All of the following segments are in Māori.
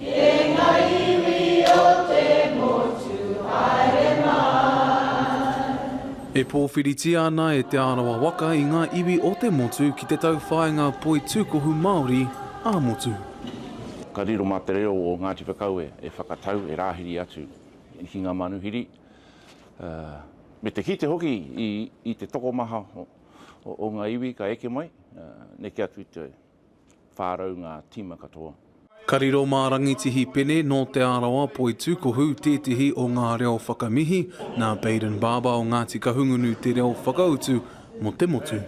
E nga iwi o te motu, haere mai. E powhiritia ana e Te Arawa waka i nga iwi o te motu ki te tauwhaenga poi tukohu Maori a motu. Ka riro ma te reo o Ngati Whakaue e whakatau, e rahiri atu ki nga manuhiri, me te kite hoki i te tokomaha o nga iwi ka eke mai neke atu i te whā rau ngā tīma katoa. Ka riro mā Rangitihi Pene nō Te Arawa Poitūkohu tētehi o ngā reo whakamihi, nā Baden Barber o Ngāti Kahungunu te reo whakautu mō te motu.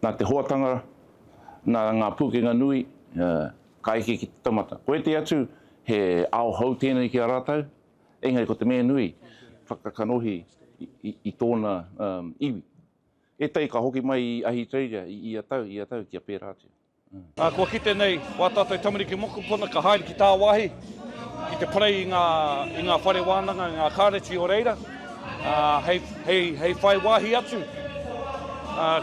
Nā te hoatanga, nā ngā pūkenga nui, ka eke ki te taumata. Ko ētehi atu, he ao hou tēnei ki a rātou, Engari ko te mea nui, whakakanohi i tōna iwi. Ētahi ka hoki mai i Ahitereiria i ia tau, ia tau kia pērā atu. Kua kite nei wā tātou tamariki mokopuna ka haere ki tāwāhi ki te parei i ngā i ngā whare wānanga, i ngā kāreti o reira hei whai wāhi atu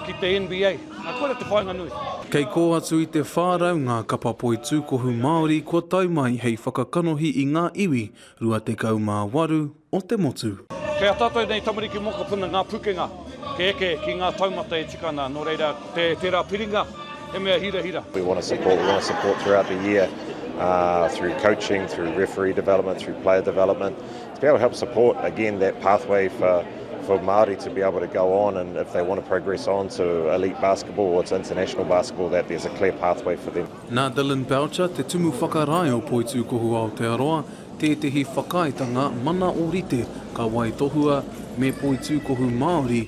ki te NBA. Na koira te whainga nui. Kei kō atu i te 400 ngā kapa poi tūkohu Māori kua tau mai hei whakakanohi i ngā iwi 28 o te motu. Kei a tātou nei tamariki mokopuna ngā pukenga kei eke ki ngā taumata e tika ana, nō reira te tērā piringa he mea hirahira. We want to support, we want to support throughout the year through coaching, through referee development, through player development. That will help support again that pathway for for Māori to be able to go on and if they want to progress on to elite basketball or to international basketball that there's a clear pathway for them. Nā Dylan Boucher, te tumu whakarae o Poitūkohu Aotearoa, tētehi whakaaetanga mana ōrite ka waitohua me Poitūkohu Māori,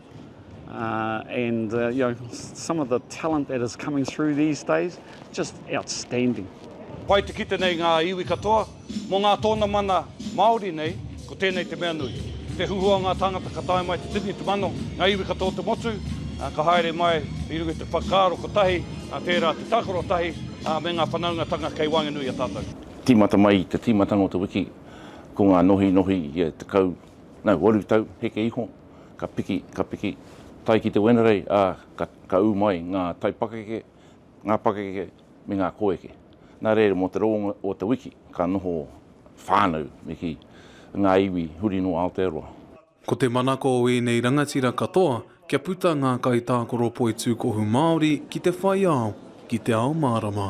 Uh, and uh, you know, some of the talent that is coming through these days, just outstanding. Pai te kite nei ngā iwi katoa, mō ngā tōna mana Māori nei, ko tēnei te mea nui. Te huhua ngā tāngata ka tae mai te tini, te mano, ngā iwi katoa te motu, uh, ka haere mai i runga te whakaaro kotahi, uh, tērā te tākaro tahi, uh, me ngā whanaungatanga kei waenganui a tātou. Tīmata mai i te tīmatanga o te wiki, ko ngā nohinohi i e tekau, no, waru tau, heke iho, Ka piki, ka piki, tae ki te Wenerei, ā, ka, ka ū mai ngā taipakeke, ngā pakeke me ngā koeke. Nā reira, mō te rongo o te wiki, ka noho whānau me kī, ngā iwi huri nō Aotearoa. Ko te manako o ēnei rangatira katoa kia puta ngā kaitākaro poitūkohu Māori ki te whaiao, ki te ao mārama.